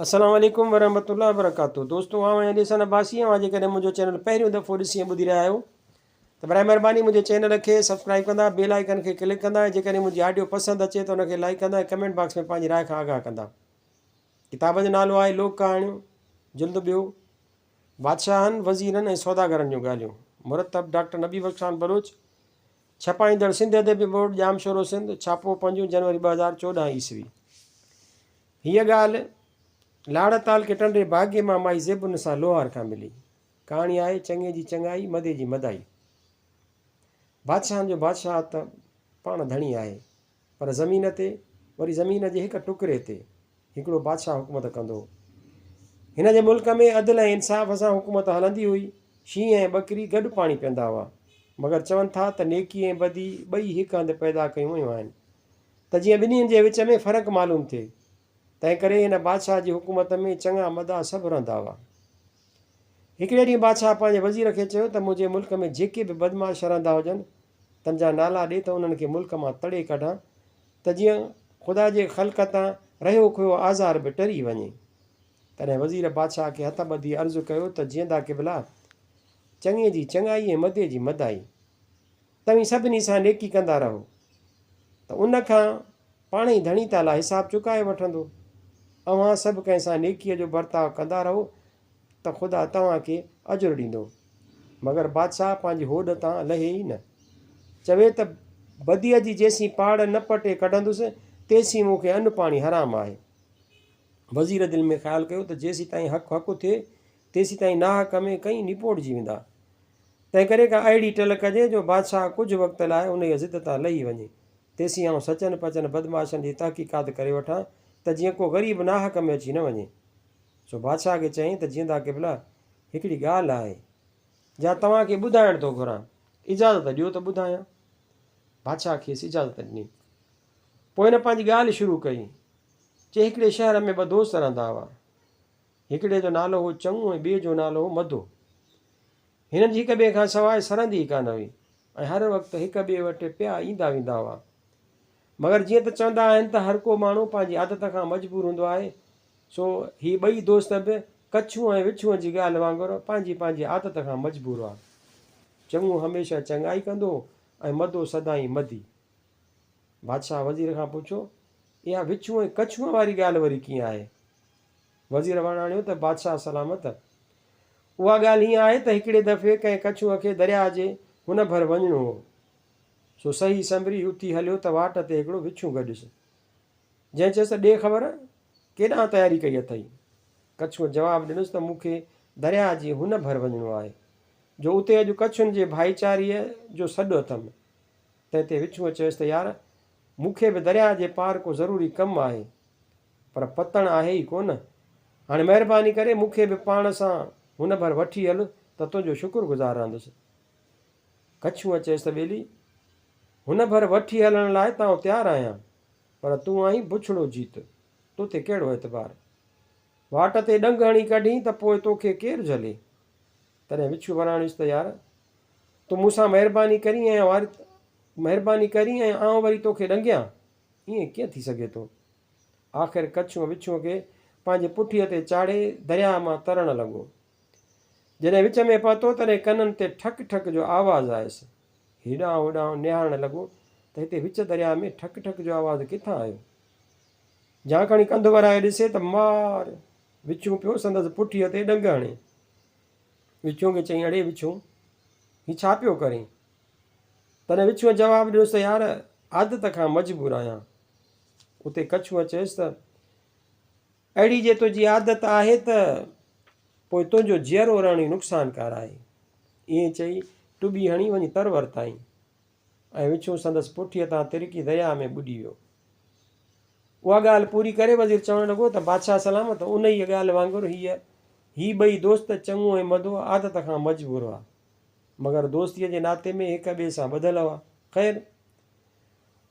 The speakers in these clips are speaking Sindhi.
السلام عليڪم ورحمة الله وبرڪاته دوستو آئون آهيان جيسان عباسي اوهان جيڪڏهن منهنجو چينل پهريون دفعو ڏسي ۽ ٻڌي رهيا آهيو ته برائي مهرباني منهنجي چينل کي سبسڪرائب ڪندا بيل آئيڪن کي ڪلڪ ڪندا ۽ جيڪڏهن منهنجي آڊيو پسند اچي ته ان کي لائيڪ ڪندا ۽ ڪمينٽ باڪس ۾ پنهنجي راء کان آگاهه ڪندا ڪتاب جو نالو آهي لوڪ ڪهاڻيون جلد ٻيو بادشاهن وزيرن ۽ سوداگرن جون ڳالهيون مرتب ڊاڪٽر نبي بخش خان بلوچ ڇپائيندڙ سنڌ ادبي بورڊ ڄام شورو سنڌ ڇاپو پنجون جنوري ٻه هزار چوڏهن عيسوي هيء ڳالهه لاڙتال کي ٽنڊي باگي مان مائي زيب النساء لوهار کان ملي. ڪهاڻي آهي، چڱي جي چڱائي، مدي جي مدائي. بادشاهن جو بادشاهه ته پاڻ ڌڻي آهي، پر زمين تي، وري زمين جي هڪ ٽڪري تي، هڪڙو بادشاهه حڪومت ڪندو هو. هن جي ملڪ ۾ عدل ۽ انصاف سان حڪومت هلندي هئي. شينهن ۽ ٻڪري گڏ پاڻي پيئندا هئا. مگر چون ٿا ته نيڪي ۽ بدي ٻئي هڪ هنڌ پيدا ڪيون ويون آهن. ته جيئن ٻنهين جي وچ ۾ فرق معلوم ٿئي. تنهنڪري هن بادشاهه جي حڪومت ۾ چڱا مداح سڀ رهندا هئا. هڪڙي ڏينهن بادشاهه پنهنجي وزير کي چيو ته منهنجي ملڪ ۾ جيڪي به بدمعاش رهندا هجن، تن جا نالا ڏي ته انهن کي ملڪ مان تڙي ڪڍان ته جيئن خدا جي خلق تان رهيو کهيو آزار به ٽري وڃي. تڏهن وزير بادشاهه کي هٿ ٻڌي عرض ڪيو ته جيئندا قبلا! چڱي جي چڱائي ۽ مدي جي مداحي. توهين سڀني سان نيڪي ڪندا رهو ته ان کان پاڻ ئي ڌڻي تعاليٰ حساب چڪائي وٺندو. اوهان سڀ ڪنهن سان نيڪيء جو برتاء ڪندا رهو ته خدا توهان کي اجر ڏيندو. مگر بادشاهه پنهنجي هوڏ تان لهي ئي نه. چوي ته بديء جي جيسين پاڙ نه پٽي ڪڍندس، تيسين مون کي ان پاڻي حرام آهي. وزير دل ۾ خيال ڪيو ته جيسين تائين حق حق اٿئي، تيسيتائين ناحق ۾ ڪئين نپوڙجي ويندا. تنهنڪري ڪا اهڙي ٽل ڪجي جو بادشاهه ڪجهه وقت لاء انهيء ضد تان لهي وڃي. تيسين آئون سچن پچن بدمعاشن جي تحقيقات ڪري وٺان ته جيئن ڪو غريب ناحق ۾ اچي نه وڃي. سو بادشاهه کي چيائين ته جيئندا قبلا! هڪڙي ڳالهه آهي، جا توهان کي ٻڌائڻ ٿو گهران، اجازت ڏيو ته ٻڌايان. بادشاهه کيس اجازت ڏني. پوء هن پنهنجي ڳالهه شروع ڪئي. چيائين هڪڙي شهر ۾ ٻه دوست رهندا هئا. هڪڙي جو نالو هو چڱو ۽ ٻئي جو نالو هو مدو. هنن جي هڪ ٻئي کان سواء سرندي ئي ڪانه هئي ۽ هر وقت هڪ ٻئي وٽ پيا ايندا ويندا هئا. مگر جيئن ته چوندا آهن ته هر ڪو ماڻهو پنهنجي عادت کان مجبور هوندو آهي سو هي ٻئي دوست به ڪڇون ۽ وڇون جي ڳالهه وانگر پنهنجي پنهنجي عادت کان مجبور هئا. چڱو هميشه چڱائي ڪندو هو ۽ مدو سدائين مدي. بادشاهه وزير کان پڇيو اها وڇون ۽ ڪڇون واري ڳالهه وري ڪيئن آهي؟ وزير وڻاڻيو ته بادشاهه سلامت، اها ڳالهه هيئن آهي ته هڪڙي دفعي ڪنهن ڪڇونء کي درياهه جي هن ڀر وڃڻو هو، سو صحيح سنبري اتي هليو ته واٽ تي هڪڙو وڇون گڏيس، جنهن چيس ته ڏي خبر ڪيڏانهن تياري ڪئي اٿئي؟ ڪڇونء جواب ڏنس ته مون کي درياهه جي هن ڀر وڃڻو آهي، جو اتي اڄ ڪڇن جي ڀائيچاري جو سڏ اٿم. تنهن تي وڇوء چيس ته يار! مون کي به درياء جي پار ڪو ضروري ڪم آهي، پر پتڻ آهي ئي ڪونه. هاڻي مهرباني ڪري مون کي به پاڻ سان هن ڀر وٺي هل ته تنهنجو شڪر گذار رهندس. ڪڇوء چيس ته ٻيلي! هن ڀر وٺي هلڻ لاء تانء تيار آهيان، پر تون آهين بڇڙو جيت، تو تي ڪهڙو اعتبار؟ واٽ تي ڏنگ هڻي ڪڍين ته پوء توکي ڪير جهلي؟ تڏهن وڇو وراڻيس ته يار! تون مون سان مهرباني ڪرين ۽ واري مهرباني ڪرين ۽ آئون وري توکي ڏنگيان؟ ائين ڪيئن ٿي سگهي ٿو؟ آخر ڪڇونء وڇونء کي پنهنجي پٺيء تي چاڙهي درياهه مان ترڻ لڳو. جڏهن وچ ۾ پهتو تڏهن ڪنن تي ٺڪ ٺڪ جو آواز آيس. هيڏانهن هوڏانهن نهارڻ لڳو ته هتي وچ درياء ۾ ٺڪ ٺڪ جو آواز ڪٿان آيو. جهانڪڻي ڪنڌ ورائي ڏسي ته مار! وڇون پيو سندس پٺيء تي ڏنگ هڻي. وڇون کي چيائين اڙي وڇون! هي ڇا پيو ڪرين؟ تڏهن وڇونء جواب ڏنس ته يار! عادت کان مجبور آهيان. اتي ڪڇونء چيس ته اهڙي جي تنهنجي عادت آهي ته پوء تنهنجو جيئرو رهڻ ئي نقصانڪار آهي. ائين چئي ٽٻي هڻي وڃي تر ورتائين ۽ وڇون سندس پٺيء تان ترڪي درياء ۾ ٻڏي ويو. اها ڳالهه پوري ڪري وزير چوڻ لڳو ته بادشاهه سلامت انهيء ڳالهه وانگر هيء هي ٻئي دوست چڱو ۽ مدو عادت کان مجبور هئا، مگر دوستيء جي ناتي ۾ هڪ ٻئي سان ٻڌل هئا. خير!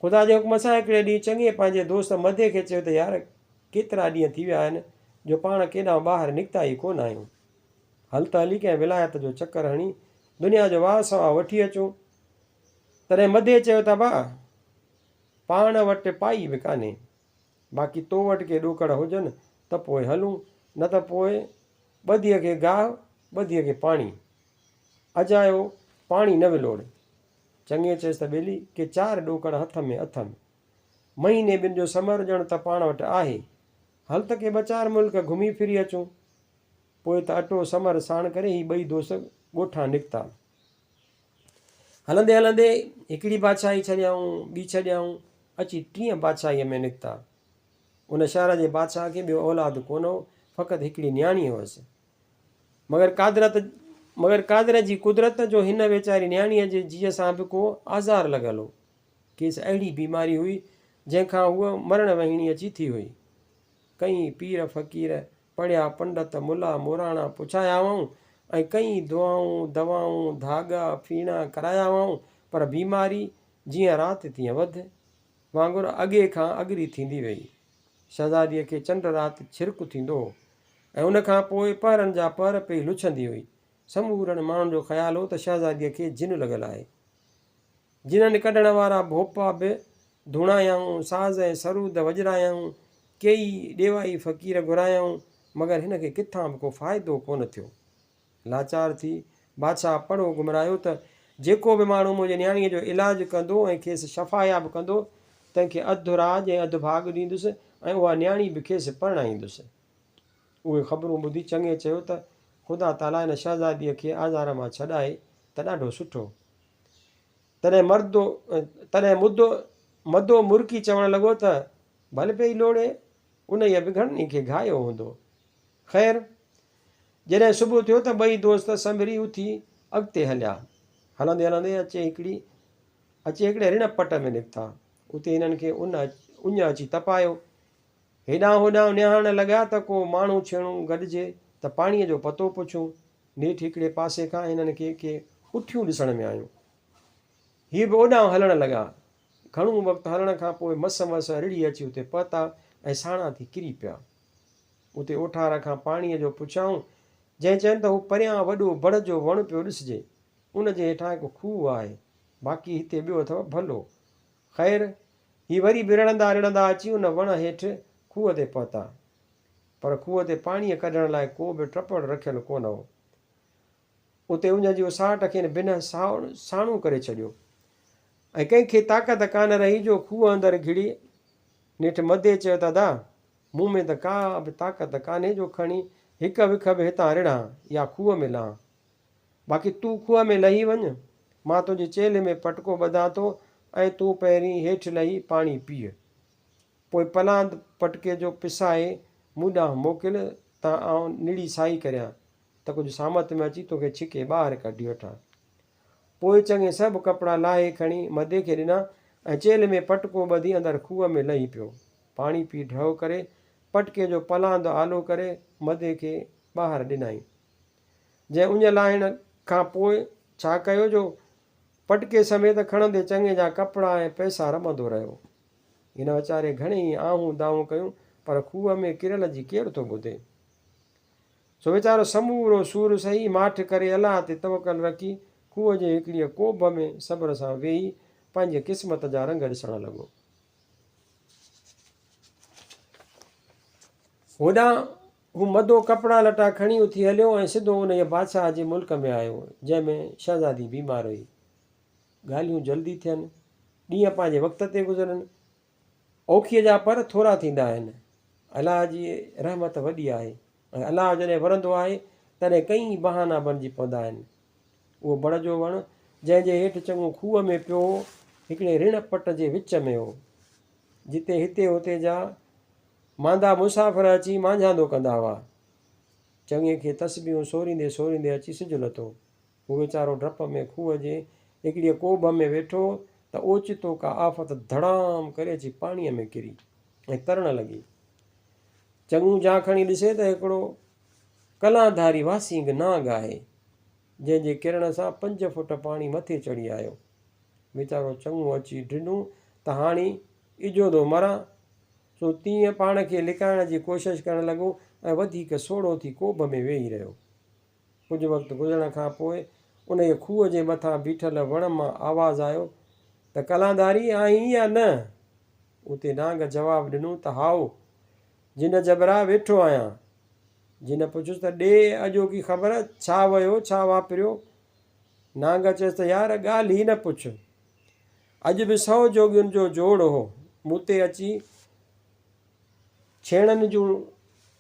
خدا جي حڪم سان هڪڙي ڏينهن چڱي پنهنجي دوست مدي کي چيو ته يار ڪيترا ڏينهن ٿي ويا آهن جو پاڻ ڪيڏانهن ٻاهر نڪتا ئي ڪونه آهيون. هل ته هلي ڪنهن ولايت جو چڪر هڻي دنيا جو واهه سواهه وٺي اچون. تڏهن مدي چيو ته ابا پاڻ وٽ پائي به ڪانهي باقي تو وٽ ڪي ڏوڪڙ هجن ته پوء هلون نه ته پوء ٻڌيء کي گاهه ٻڌيء کي پاڻي. اجايو پاڻي نه ولوڙ. چڱي چيس ته ٻيلي ڪي چار ڏوڪڙ هٿ ۾ اٿم. مهيني ٻن جو سمر ڄڻ ته پاڻ وٽ آهي. هل ته ڪي ٻه چار ملڪ گهمي ڦري اچون. پوء ته اٽو سمر ساڻ ڪري هي ٻئي دوست ڳوٺان نڪتا. هلندي هلندي هڪڙي بادشاهي ڇڏيائون، ٻي ڇڏيائون، اچي ٽين بادشاهيء ۾ نڪتا. ان شهر جي بادشاهه کي ٻيو اولاد ڪونه هو، فقط هڪڙي نياڻي هئس. مگر قادرت مگر قادر جي قدرت جو هن ويچاري نياڻيء جي جيء سان به ڪو آزار لڳل هو. کيس اهڙي بيماري هئي، جنهن کان هوء مرڻ وهيڻي اچي ٿي هئي. ڪئين پير فقير، پڙهيا پنڊت، ملا موراڻا پڇايا هئائون ۽ ڪئين دعائون، دوائون، ڌاڳا، ڦيڻا ڪرايا هئائون، پر بيماري جيئن رات تيئن وڌ. وانگر اڳي کان اڳري ٿيندي ويئي. شهزاديء کي چنڊ رات ڇرڪ ٿيندو هو ۽ ان کان پوء پهرن جا پهر پئي لڇندي هئي. سمورن ماڻهن جو خيال هو ته شهزاديء کي جن لڳل آهي. جنن ڪڍڻ وارا ڀوپا به ڌوڻايائون، ساز ۽ سرود وڄرايائون، ڪيئي ڏيوائي فقير گهرايائون، مگر هن کي ڪٿان به ڪو فائدو ڪونه ٿيو. لاچار ٿي بادشاهه پڙهو گهمرايو ته جيڪو به ماڻهو منهنجي نياڻيء جو علاج ڪندو ۽ کيس شفاياب ڪندو، تنهن کي اڌ راڄ ۽ اڌ ڀاڳ ڏيندس ۽ اها نياڻي به کيس پرڻائيندس. اهي خبرون ٻڌي چڱي چيو ته خدا تعاليٰ هن شهزاديء کي آزار مان ڇڏائي ته ڏاڍو سٺو. تڏهن مردو تڏهن مدو مدو مرڪي چوڻ لڳو ته ڀل پئي لوڙهي، انهيء به گهڻن ئي کي گهايو هوندو. خير، جڏهن صبح ٿيو ته ٻئي دوست سنڀري اٿي اڳتي هليا. هلندي هلندي اچي هڪڙي اچي هڪڙي رڻ پٽ ۾ نڪتا. اتي هنن کي ان اڃ اچي تپايو. هيڏانهن هوڏانهن نهارڻ لڳا ته ڪو ماڻهو ڇيڻو گڏجي ته پاڻيء جو پتو پڇون. نيٺ هڪڙي پاسي کان هنن کي ڪي اٺيون ڏسڻ ۾ آيون. هي به اوڏانهن هلڻ لڳا. گهڻو وقت هلڻ کان پوء مس مس رڙهي اچي اتي پهتا ۽ ساڻا ٿي ڪري پيا. اتي اوٺارا کان پاڻيء جو پڇيائون، جنهن چين ته هو پريان وڏو بڙ جو وڻ پيو ڏسجي، ان جي هيٺان هڪ کوهه آهي، باقي هتي ٻيو اٿو ڀلو. خير، هي وري به رڙهندا رڙهندا اچي ان وڻ هيٺ کوهه تي پهتا. پر کوهه تي پاڻيء ڪڍڻ لاء ڪو به ٽپڙ رکيل ڪونه هو. اتي اڃ جي اساهٽ کين بنهه ساڻو ساڻو ڪري ڇڏيو ۽ ڪنهن کي طاقت ڪانه رهي جو کوهه اندر گهڙي نيٺ مدي چيو ته ادا! مون ۾ ته ڪا به طاقت ڪانهي جو کڻي هڪ وک به هتان رڙهان يا کوهه ۾ لهان. باقي تون کوهه ۾ لهي وڃ، مان تنهنجي چيلهه ۾ پٽڪو ٻڌان ٿو ۽ تون پهرين هيٺ لهي پاڻي پيء. پوء پلاند پٽڪي جو پسائي مون ڏانهن موڪل ته آئون نڙي سائي ڪريان ته ڪجهه سامت ۾ اچي توکي ڇڪي ٻاهر ڪڍي وٺان. پوء چڱي سڀ ڪپڙا لاهي کڻي مدي کي ڏنا ۽ چيلهه ۾ پٽڪو ٻڌي اندر کوهه ۾ لهي پيو. پاڻي پي ڍؤ ڪري، پٽڪي جو پلاند آلو ڪري مدي کي ٻاهر ڏنائين. جنهن اڃ لاهڻ کان پوء ڇا ڪيو جو پٽڪي سميت کڻندي چڱي جا ڪپڙا ۽ پئسا رٻندو رهيو. هن ويچاري گهڻي ئي آهون دانهون ڪيون پر کوهه ۾ ڪريل جي ڪير ٿو ٻڌي. سو ويچارو سمورو سور سهي ماٺ ڪري الله تي توڪل رکي کوهه جي هڪڙيء ڪوڀ ۾ صبر سان ويهي پنهنجي قسمت جا رنگ ڏسڻ لڳو. هوڏانهن هو مدو ڪپڙا لٽا کڻي اٿي هليو ۽ سڌو انهيء بادشاهه جي ملڪ ۾ آيو، جنهن ۾ شهزادي بيمار هئي. ڳالهيون جلدي ٿين، ڏينهن پنهنجي وقت تي گذرن، اوکيء جا پر ٿورا ٿيندا آهن. الله جي رحمت وڏي آهي. پر الله جڏهن ورندو آهي، تڏهن ڪئين ئي بهانا بڻجي پوندا آهن. اهو بڙ جو وڻ، جنهن جي هيٺ چڱو کوهه ۾ پيو هو، هڪڙي رڻ پٽ جي وچ ۾ هو، جتي هتي هتي جا ماندا مسافر اچي مانجهاندو ڪندا هئا. چڱي کي تسبيحون سوريندي سوريندي اچي سج لٿو. هو ويچارو ڊپ ۾ کوهه جي هڪڙيء ڪوڀ ۾ ويٺو ته اوچتو ڪا آفت ڌڙام ڪري اچي پاڻيء ۾ ڪري ۽ ترڻ لڳي. چڱو جان کڻي ڏسي ته هڪڙو ڪلان ڌاري واسينگ نانگ آهي، جنهن جي ڪرڻ سان پنج فوٽ پاڻي مٿي چڙهي آيو. ويچارو چڱو اچي ڊنو ته هاڻي اجودو مران، سو تيئن پاڻ کي لڪائڻ جي ڪوشش ڪرڻ لڳو ۽ وڌيڪ سوڙهو ٿي ڪوڀ ۾ ويهي رهيو. ڪجهه وقت گذرڻ کان پوء انهيء کوهه جي مٿان بيٺل وڻ مان آواز آيو ته ڪلانداري آهين يا نه؟ اتي نانگ جواب ڏنو ته هائو، جن جبرا ويٺو آهيان. جن پڇيس ته ڏي اڄوڪي خبر، ڇا ويو، ڇا واپريو؟ نانگ چيس ته يار ڳالهه ئي نه پڇ. اڄ به سؤ جوڳين جو جوڙ هو، مون تي اچي ڇيڻن جون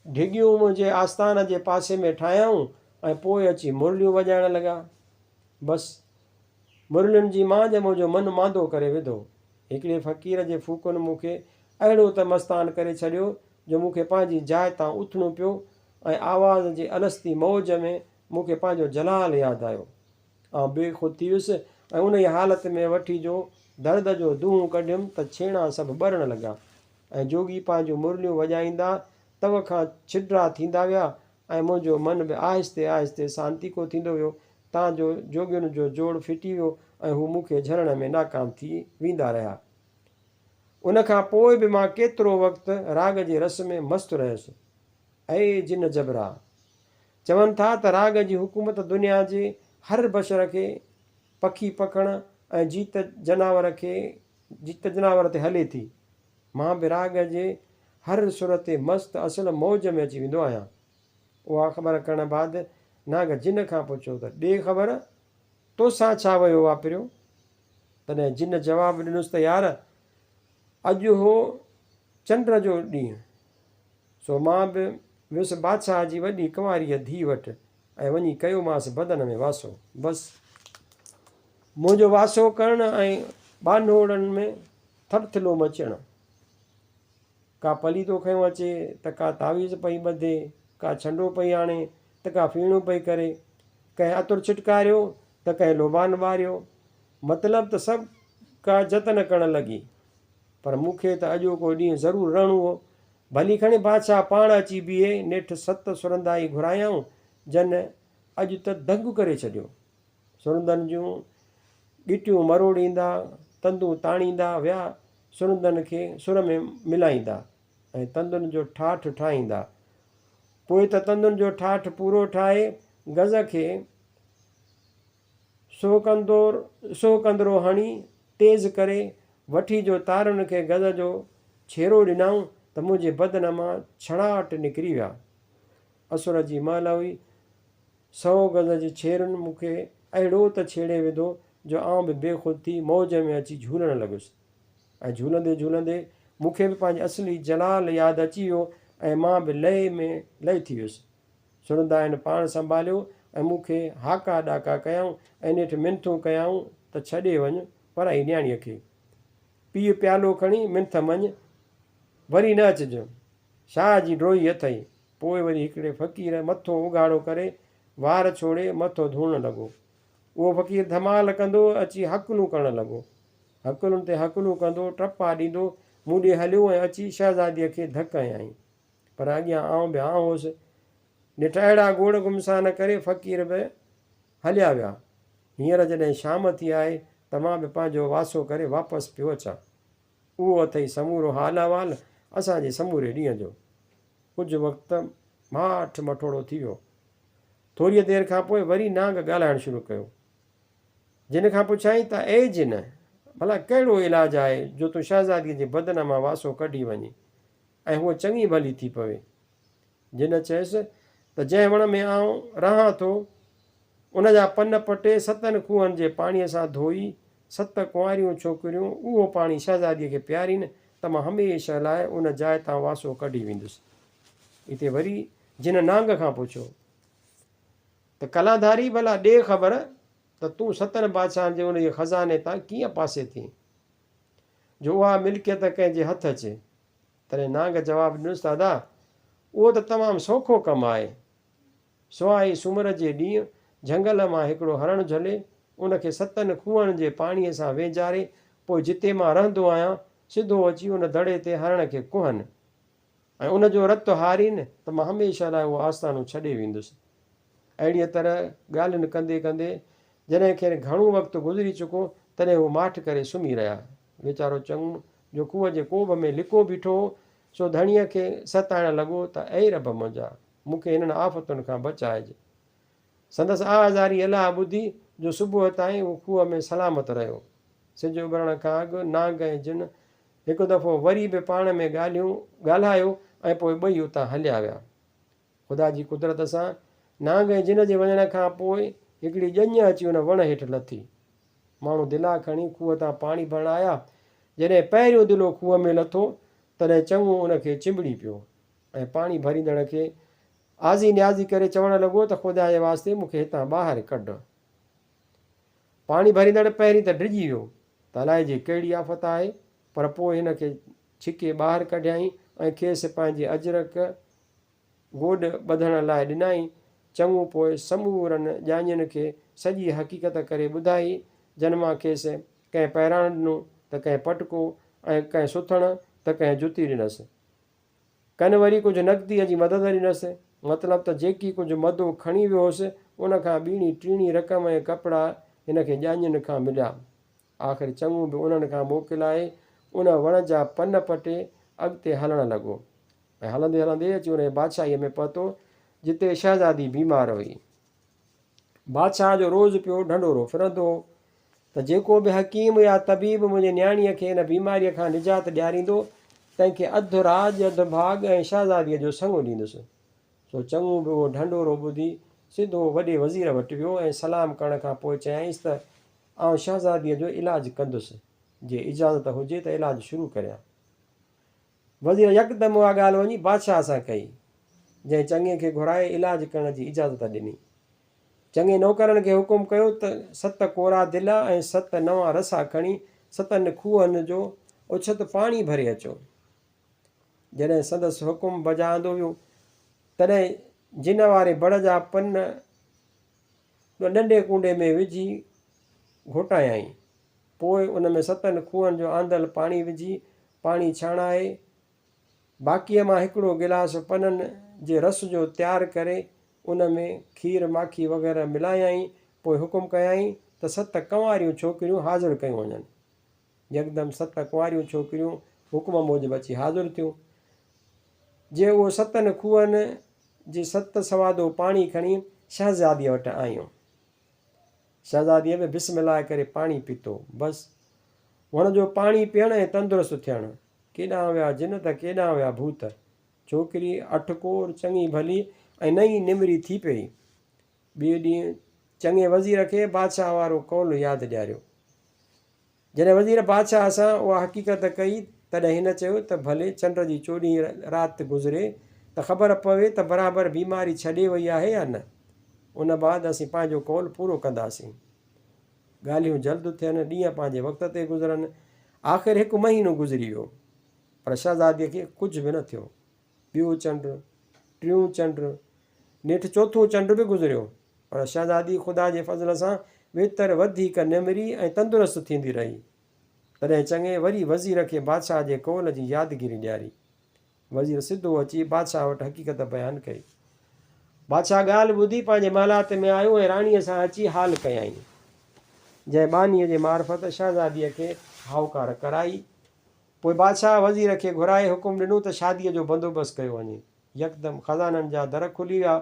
ڍڳيون منهنجي آستان جي پاسي ۾ ٺاهيائون ۽ پوء اچي مرليون وڄائڻ لڳا. بس، مرلين جي مانجهه منهنجو من ماندو ڪري وڌو. هڪڙي فقير جي ڦوڪن مون کي اهڙو ته مستان ڪري ڇڏيو جو مون کي پنهنجي جاء تان اٿڻو پيو ۽ آواز جي الستي موج ۾ مون کي پنهنجو جلال ياد آيو. آئون بي خود ٿي ويس ۽ انهيء حالت ۾ وٺي جو درد جو دونهون ڪڍيم ته ڇيڻا سڀ ٻرڻ لڳا ۽ جوڳي پنهنجون مرليون وڄائيندا تنهن کان ڇڊرا ٿيندا ويا ۽ منهنجو من به آهستي آهستي سانتيڪو ٿيندو ويو تان جو جوڳين جو جوڙ ڦٽي ويو ۽ هو مون کي جهلڻ ۾ ناڪام ٿي ويندا رهيا. ان کان پوء به مان ڪيترو وقت راڳ جي رس ۾ مست رهيس. اي جن جبرا! چون ٿا ته راڳ جي حڪومت دنيا جي هر بشر کي، پکي پکڻ ۽ جيت جناور کي جيت جناور تي هلي ٿي. مان به راڳ جي هر سر تي مست اصل موج ۾ اچي ويندو آهيان. اها خبر ڪرڻ بعد ناگ جن کان پڇيو ته ڏي خبر تو سان ڇا ويو واپريو؟ تڏهن جن جواب ڏنس ته يار اڄ هو چنڊ جو ڏينهن سو مان به ويس بادشاهه جي وڏي ڪنواريء ڌيء وٽ ۽ وڃي ڪيومانس بدن ۾ واسو. بس منهنجو واسو ڪرڻ ۽ ٻانهوڙن ۾ ٿڦٿلو مچڻ. ڪا پليتو کنيو اچي ته ڪا تعويذ پئي ٻڌي، ڪا ڇنڊو پئي آڻي ته ڪا ڦيڻو پئي ڪري، ڪنهن عطر ڇٽڪاريو ته ڪنهن لوبان ٻاريو، مطلب ته سڀ ڪا جتن ڪرڻ لڳي. پر مون کي ته اڄوڪو ڏينهن ضرور رهڻو هو. ڀلي کڻي بادشاهه پاڻ اچي بيهي، نيٺ ست سرندا ئي گهرايائون، جن اڄ ته دنگ ڪري ڇڏيو. سرندن جون ڳٽيون مروڙيندا، تندون تاڻيندا ويا، سرندن کي سر ۾ ملائيندا ۽ تندن جو ٺاٺ ٺاهيندا. پوء ته تندن جو ٺاٺ پورو ٺاهي گز کي سو ڪندور سو ڪندرو هڻي تيز ڪري وٺي جو تارن کي گز جو ڇيرو ڏنائون ته منهنجي بدن مان ڇڙاٽ نڪري ويا. اسور جي مهل هئي. سئو گز جي ڇيرن مون کي اهڙو ته ڇيڙي وڌو جو آئون به بي خود ٿي موج ۾ اچي جهولڻ لڳس ۽ جهولندي جهولندي مون کي به پنهنجي اصلي جلال ياد اچي ويو ۽ مان به لئي ۾ لئي ٿي ويس. سڻندائن پاڻ سنڀاليو ۽ مون کي هاڪا ڏاڪا ڪيائون ۽ نيٺ منٿون ڪيائون ته ڇڏي وڃ پرائي نياڻيء کي. پيء پيالو کڻي منٿم وڃ، وري نه اچج. شاهه جي ڊوهي اٿئي. پوء وري هڪڙي فقير مٿو اگهاڙو ڪري، وار ڇوڙي مٿو ڌوڻڻ لڳو. اهو فقير ڌمال ڪندو اچي هڪلون ڪرڻ لڳو. هڪلن تي هڪلون ڪندو، ٽپا ڏيندو، مون ڏي هليو ۽ اچي شهزاديء کي ڌڪ هنيائين. پر اڳيان آئون به آئون هوس. نيٺ اهڙا گوڙ گمسان ڪري فقير به هليا ويا. هينئر جڏهن شام ٿي آهي ته مان به پنهنجو واسو ڪري واپس پيو اچان. اهو اٿئي سمورو حال احوال اسان جي سموري ڏينهن جو. ڪجهه وقت ماٺ مٺوڙو ٿي ويو. ٿوريء دير کان پوء وري نانگ ڳالهائڻ شروع ڪيو. جن کان پڇيائين ته اي جن! ڀلا ڪهڙو علاج آهي جو تون شهزاديء جي بدن مان واسو ڪڍي وڃين؟ ۽ هوء چڱي ڀلي ٿي پوي. جنھن چيس ته جنھن وڻ ۾ آئون رهان ٿو، ان جا پن پٽي ستن کوهن جي پاڻيء سان ڌوئي، ست ڪنواريون ڇوڪريون اهو پاڻي شهزاديء کي پيارين ته مان هميشه لاء ان جاء تان واسو ڪڍي ويندس. اتي وري جنھن نانگ کان پڇيو ته ڪلاڌاري ڀلا ڏي خبر ته تون ستن بادشاهن جي انھيء خزاني تان ڪيئن پاسي ٿئين؟ جو اها ملڪيت ڪنهن جي هٿ اچي. تڏهن نانگ جواب ڏنس ته ادا اهو ته تمام سوکو ڪم آهي. سواء هي سومر جي ڏينهن جهنگل مان هڪڙو هرڻ جهلي ان کي ستن کوهن جي پاڻيء سان وينجاري پوء جتي مان رهندو آهيان سڌو اچي ان دڙي تي هرڻ کي ڪهن. ۽ ان جو رت هارين ته مان هميشه لاء اهو آستانو ڇڏي ويندس. اهڙيء طرح ڳالهين ڪندي ڪندي جڏهن کين گهڻو وقت گذري چڪو، تڏهن هو ماٺ ڪري سمهي رهيا. ويچارو چڱو، جو کوهه جي ڪوڀ ۾ لڪو بيٺو هو، سو ڌڻيء کي ستائڻ لڳو ته اي رب منهنجا! مون کي هنن آفتن کان بچائج. سندس آهذاري الهه ٻڌي جو صبح تائين هو کوهه ۾ سلامت رهيو. سج اڀرڻ کان اڳ نانگ ۽ جن هڪ دفعو وري به پاڻ ۾ ڳالهيون ڳالهايو ۽ پوء ٻئي اتان هليا ويا. خدا جي قدرت سان نانگ ۽ جن جي وڃڻ کان پوء هڪڙي ڄڃ اچي ان وڻ هيٺ لٿي. ماڻهو دلا کڻي کوهه تان پاڻي ڀرڻ آيا. جڏهن پهريون دلو کوهه ۾ لٿو تڏهن چڱو ان کي چنبڙي پيو ۽ پاڻي ڀريندڙ کي آزي نيازي ڪري چوڻ لڳو ته خدا جي واسطي مون کي هتان ٻاهر ڪڍ. پاڻي ڀريندڙ پهرين ته ڊڄي ويو ته الائي جي ڪهڙي آفت آهي پر پوء هن کي ڇڪي ٻاهر ڪڍيائين ۽ کيس پنهنجي اجرڪ گوڏ ٻڌڻ لاء ڏنائين. چڱو پوء سمورن ڄاڃين کي سڄي حقيقت ڪري ٻڌائي جن مان کيس ڪنهن پهراڻ ڏنو ته ڪنهن پٽڪو ۽ ڪنهن سٿڻ ته ڪنهن جتي ڏنس. ڪن وري ڪجهه نقديء جي مدد ڏنس، مطلب ته جيڪي ڪجهه مدو کڻي ويو هوس، ان کان ٻيڻي ٽيڻي رقم ۽ ڪپڙا هن کي ڄاڃين کان مليا. آخر چڱو به انهن کان موڪلائي، ان وڻ جا پن پٽي، اڳتي هلڻ لڳو ۽ هلندي هلندي اچي انهيء بادشاهيء ۾ پهتو، جتي شهزادي بيمار هئي. بادشاهه جو روز پيو ڍنڍورو ڦرندو هو ته جيڪو به حڪيم يا طبيب منهنجي نياڻيء کي ان بيماريء کان نجات ڏياريندو، تنهن کي اڌ راڄ، اڌ ڀاڳ ۽ شهزاديء جو سڱو ڏيندس. سو چڱو به اهو ڍنڍورو ٻڌي، سڌو وڏي وزير وٽ ويو ۽ سلام ڪرڻ کان پوء چيائينس ته آئون شهزاديء جو علاج ڪندس، جي اجازت هجي ته علاج شروع ڪريان. وزير يڪدم اها ڳالهه وڃي بادشاهه سان ڪئي، جنهن چڱي کي گهرائي علاج ڪرڻ جي اجازت ڏني. چڱي نوڪرن کي حڪم ڪيو ته ست ڪورا دلا ۽ ست نوان رسا کڻي ستن کوهن جو اڇت پاڻي ڀري اچو. جڏهن سندس حڪم بجا آندو ويو، تڏهن جنه واري بڙ جا پن ڏنڊي ڪونڊي ۾ وجهي گهوٽايائين. پوء ان ۾ ستن کوهن جو آندل پاڻي وجهي پاڻي ڇاڻائي، باقيء مان هڪڙو گلاس پنن جي رس جو تيار ڪري، ان ۾ کير ماکي وغيره ملايائين، پوء حڪم ڪيائين ته ست ڪنواريون ڇوڪريون حاضر ڪيون وڃن. يڪدم ست ڪنواريون ڇوڪريون حڪم موجب اچي حاضر ٿيون. جي اهو ستن کوهن جي ست سوادو پاڻي کڻي شهزاديء وٽ آيون. شهزاديء به بسم الله ڪري پاڻي پيتو. بس! هن جو پاڻي پيئڻ ۽ تندرست ٿيڻ. ڪيڏانهن ويا جن ته ڪيڏانهن ويا ڀوت. ڇوڪري اٺ پور چڱي ڀلي ۽ نئين نمري ٿي پئي. ٻئي ڏينهن چڱي وزير کي بادشاهه وارو قول ياد ڏياريو. جڏهن وزير بادشاهه سان اها حقيقت ڪئي، تڏهن هن چيو ته ڀلي چنڊ جي چوڏهين رات گذري ته خبر پوي ته برابر بيماري ڇڏي وئي آهي يا نه. ان بعد اسين پنهنجو قول پورو ڪنداسين. ڳالهيون جلد ٿين، ڏينهن پنهنجي وقت تي گذرن. آخر هڪ مهينو گذري ويو، پر شهزادي کي ڪجهه به نه ٿيو. ٻيون چنڊ، ٽيون چنڊ، نيٺ چوٿون چنڊ به گذريو، پر شهزادي خدا جي فضل سان ويتر وڌيڪ نمري ۽ تندرست ٿيندي رهي. تڏهن چڱي وري وزير کي بادشاهه جي قول جي يادگيري ڏياري. وزير سڌو اچي بادشاهه وٽ حقيقت بيان ڪئي. بادشاهه ڳالهه ٻڌي پنهنجي محلات ۾ آيو ۽ راڻيء سان اچي حال ڪيائين، جنهن ٻانهيء جي معرفت شهزاديء کي هائوڪار ڪرائي. پوء بادشاهه وزير کي گهرائي حڪم ڏنو ته شاديء جو بندوبست ڪيو وڃي. يڪدم خزانن جا در کلي ويا.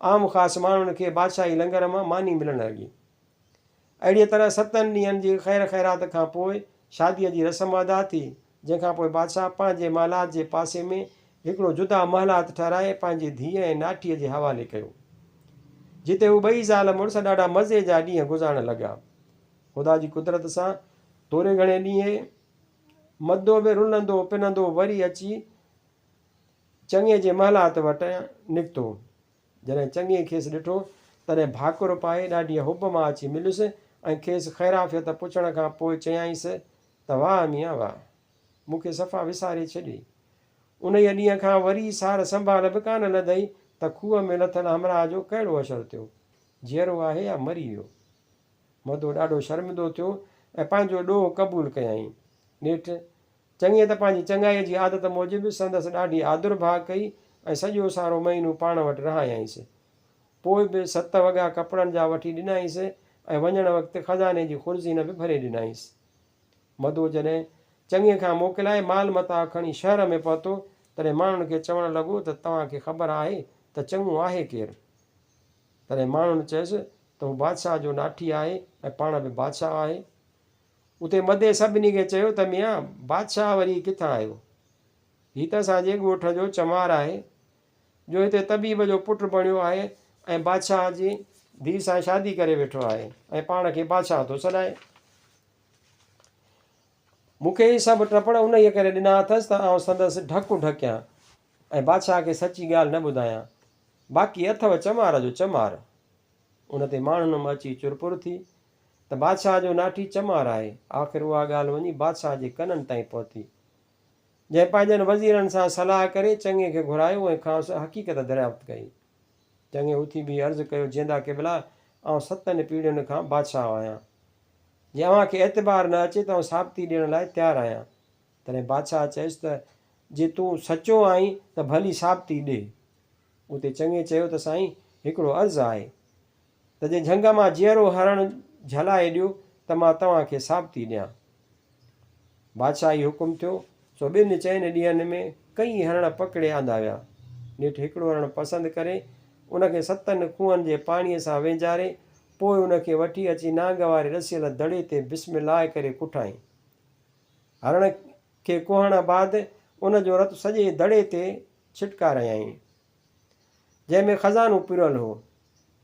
عام خاص ماڻهن کي بادشاهي لنگر مان ماني ملڻ لڳي. اهڙيء طرح ستن ڏينهن جي خير خيرات کان پوء شاديء جي رسم ادا ٿي، جنهن کان پوء بادشاهه پنهنجي محلات جي پاسي ۾ هڪڙو جدا محلات ٺهرائي پنهنجي ڌيء ۽ ناٺيء جي حوالي ڪيو، جتي هو ٻئي زال مڙس ڏاڍا مزي جا ڏينهن گذارڻ لڳا. خدا جي قدرت سان ٿوري گهڻي ڏينهن مدو ۾ رنندو پنندو وري اچي چڱي جي محلات وٽ نڪتو. جڏهن چڱي کيس ڏٺو، تڏهن ڀاڪر پائي ڏاڍيء حب مان اچي مليس ۽ کيس خيرعافيت پڇڻ کان پوء چيائينس ته واهه ميان واهه! مون کي صفا وساري ڇڏيئي. انهيء ڏينهن کان وري سار سنڀال به ڪانه لڌئي ته کوهه ۾ لٿل همراهه جو ڪهڙو حشر ٿيو، جيئرو آهي يا مري ويو؟ مدو ڏاڍو شرمندو ٿيو ۽ پنهنجو ڏوهه قبول ڪيائين. نيٺ چڱيء ته پنهنجي چڱائيء جي عادت موجب سندس ڏاڍي آڌر ڀاء ڪئي ۽ سڄو سارو مهينو پاڻ وٽ رهايائينس. پوء به ست وڳا ڪپڙن جا وٺي ڏنائينس ۽ وڃڻ وقت خزاني جي خرزينه به ڀري ڏنائينس. مدو جڏهن چڱيء کان موڪلائي مال متاع کڻي شهر ۾ پهتو، تڏهن ماڻهن کي چوڻ لڳو ته توهان کي خبر آهي ته چڱو آهي ڪير؟ تڏهن ماڻهن چيس ته هو بادشاهه جو ناٺي آهي ۽ پاڻ به بادشاهه آهي. اتي مدي سڀني کي چيو ته ميان بادشاهه وري هي ڪٿان آيو؟ هي ته اسان جي ڳوٺ جو چمار آهي، جو هتي طبيب جو پٽ بڻيو آهي ۽ بادشاهه جي ڌيء سان شادي ڪري ويٺو آهي ۽ پاڻ کي بادشاهه ٿو سڏائي. مون کي هي سڀ ٽپڙ انهيء ڪري ڏنا اٿس ته آئون سندس ڍڪون ڍڪيان ۽ بادشاهه کي سچي ڳالهه نه ٻڌايان. باقي اٿئو چمار جو چمار. ان تي ماڻهن م اچي چرپر ٿي ته بادشاهه جو ناٺي چمار آهي. آخر اها ڳالهه وڃي بادشاهه جي ڪنن تائين پهتي، جنهن پنهنجن وزيرن سان صلاح ڪري چڱي کي گهرايو ۽ کانئس حقيقت دريافت ڪئي. چڱي اٿي بيهي عرض ڪيو، جيندا قبلا! آئون ستن پيڙهين کان بادشاهه آهيان. جي اوهان کي اعتبار نه اچي ته آئون ثابتي ڏيڻ لاء تيار آهيان. تڏهن بادشاهه چيس ته جي تون سچو آهين ته ڀلي ثابتي ڏي. اتي چڱي چيو ته سائين هڪڙو عرض آهي ته جي جهنگ مان جيئرو هرڻ جهلائي ڏيو ته مان توهان کي ثابتي ڏيان. بادشاهه هي حڪم ٿيو، سو ٻن چئن ڏينهن ۾ ڪئين هرڻ پڪڙي آندا ويا. نيٺ هڪڙو هرڻ پسند ڪري، ان کي ستن کوهن جي پاڻيء سان وينجهاري، پوء ان کي وٺي اچي نانگ واري رسيل دڙي تي بسم الله ڪري ڪٺائين. هرڻ کي کوهڻ بعد ان جو رت سڄي دڙي تي ڇٽڪارايائين. جنهن ۾ خزانو پرويل هو.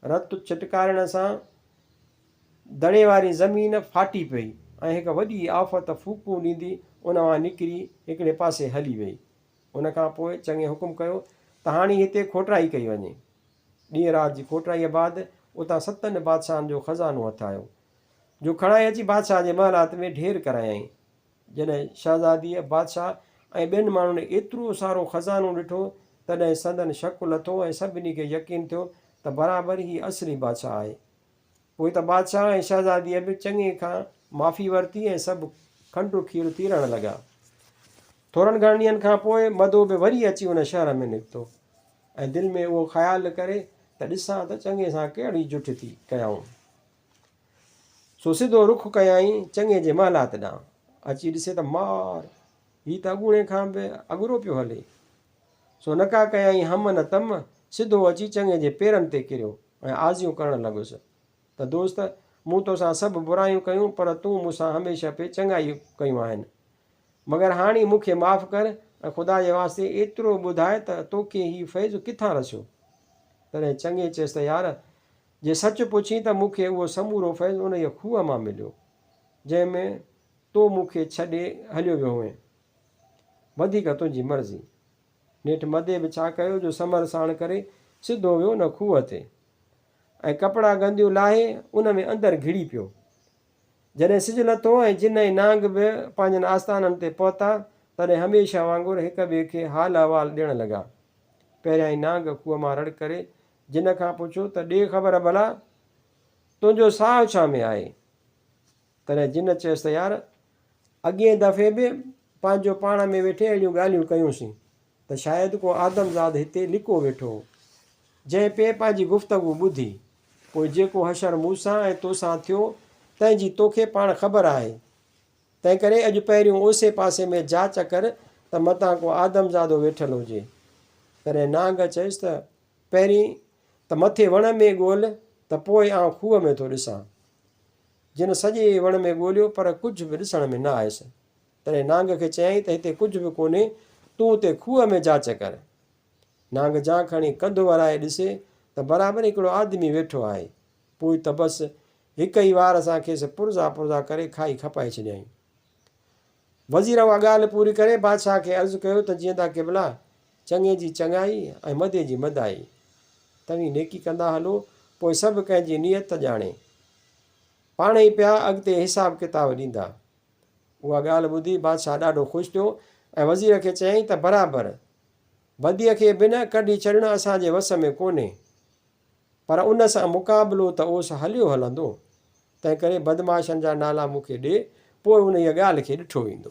رت ڇٽڪارڻ سان دڙي واري زمين ڦاٽي پئي ۽ هڪ وڏي آفت ڦوڪون ڏيندي ان مان نڪري هڪڙي پاسي هلي ويئي. ان کان پوء چڱي حڪم ڪيو ته هاڻي هتي کوٽرائي ڪئي وڃي. ڏينهن رات جي کوٽرائيء بعد اتان ستن بادشاهن جو خزانو هٿ آيو، جو کڻائي اچي بادشاهه جي محلات ۾ ڍير ڪرايائين. جڏهن شهزاديء، بادشاهه ۽ ٻين ماڻهن ايترو سارو خزانو ڏٺو، تڏهن سندن شڪ لٿو ۽ سڀني کي يقين ٿيو ته برابر هي اصلي بادشاهه آهي. پوء ته بادشاهه ۽ شهزاديء به چڱي کان معافي ورتي ۽ سڀ کنڊو کير ٿي رهڻ لڳا. ٿورن گهڻن ڏينهن کان پوء مدو به وري اچي ان شهر ۾ نڪتو ۽ دل ۾ اهو خيال ڪري ته ڏسان ته چڱي سان ڪهڙي جٺ ٿي ڪيائون. سو سڌو رخ ڪيائين چڱي جي محلات ڏانهن. اچي ڏسي ته مار! هي ته اڳوڻي کان به اڳرو پيو هلي. سو نڪا ڪيائين هم نه تم، سڌو اچي چڱي جي پيرن تي ڪريو ۽ آزيون ڪرڻ لڳس ته دوست! مون توسان سڀ برايون ڪيون پر تون مون سان هميشه پئي چڱائي ڪيون آهن. مگر هاڻي مون کي معاف ڪر ۽ خدا جي واسطي ايترو ٻڌاء ته توکي هي فيض ڪٿان رسيو؟ تڏهن چڱي چيس ته يار! جي سچ پڇين ته مون کي اهو سمورو فيض انهيء کوهه مان مليو، جنهن ۾ تو مون کي ڇڏي هليو ويو هئين. وڌيڪ تنهنجي مرضي. نيٺ مدي به ڇا ڪيو جو سمر ساڻ ڪري سڌو ويو ان کوهه تي ۽ ڪپڙا گنديون لاهي ان ۾ اندر گهڙي پيو. جڏهن سج لٿو ۽ جن ۽ نانگ به پنهنجن آستانن تي پهتا، تڏهن هميشه وانگر هڪ ٻئي کي حال احوال ڏيڻ لڳا. پهريائين نانگ کوهه مان رڙ ڪري جنھن کان پڇيو ته ڏي خبر ڀلا تنھنجو ساھه ڇا ۾ آھي؟ تڏھن جنھن چيس ته يار اڳئين دفعي به پنھنجو پاڻ ۾ ويٺي اھڙيون ڳالھيون ڪيونسين ته شايد ڪو آدمزاد ھتي لڪو ويٺو ھو. جنھن پئي پنھنجي گفتگو ٻڌي، پوء جيڪو حشر مون سان ۽ تو سان ٿيو تنھن جي توکي پاڻ خبر آھي. تنھنڪري اڄ پهريون اوسي پاسي ۾ جاچ ڪر ته متان ڪو آدمزادو ويٺل ھجي. تڏھن نانگ چيس ته پهرين ته مٿي وڻ ۾ ڳول ته پوء آئون کوهه ۾ ٿو ڏسان. جن سڄي وڻ ۾ ڳوليو پر ڪجهه به ڏسڻ ۾ نه آيس. تڏهن نانگ کي چيائين ته هتي ڪجهه به ڪونهي، تون اتي کوهه ۾ جاچ ڪر. نانگ جان کڻي ڪنڌ ورائي ڏسي ته برابر هڪڙو آدمي ويٺو آهي. پوء ته بس هڪ ئي وار سان کيس پرزا پرزا ڪري کائي کپائي ڇڏيائين. وزير اها ڳالهه پوري ڪري بادشاهه کي عرض ڪيو ته جيئندا قبلا! چڱي جي چڱائي ۽ مدي جي مدائي. توهين نيڪي ڪندا هلو، پوء سڀ ڪنهن جي نيت ڄاڻي، پاڻ ئي پيا اڳتي حساب ڪتاب ڏيندا. اها ڳالهه ٻڌي بادشاهه ڏاڍو خوش ٿيو ۽ وزير کي چيائين ته برابر! بديء کي به نه ڪڍي ڇڏڻ اسان جي وس ۾ ڪونهي. پر ان سان مقابلو ته اوس هليو هلندو، تنهنڪري بدمعاشن جا نالا مون کي ڏي، پوء انهيء ڳالهه کي ڏٺو ويندو.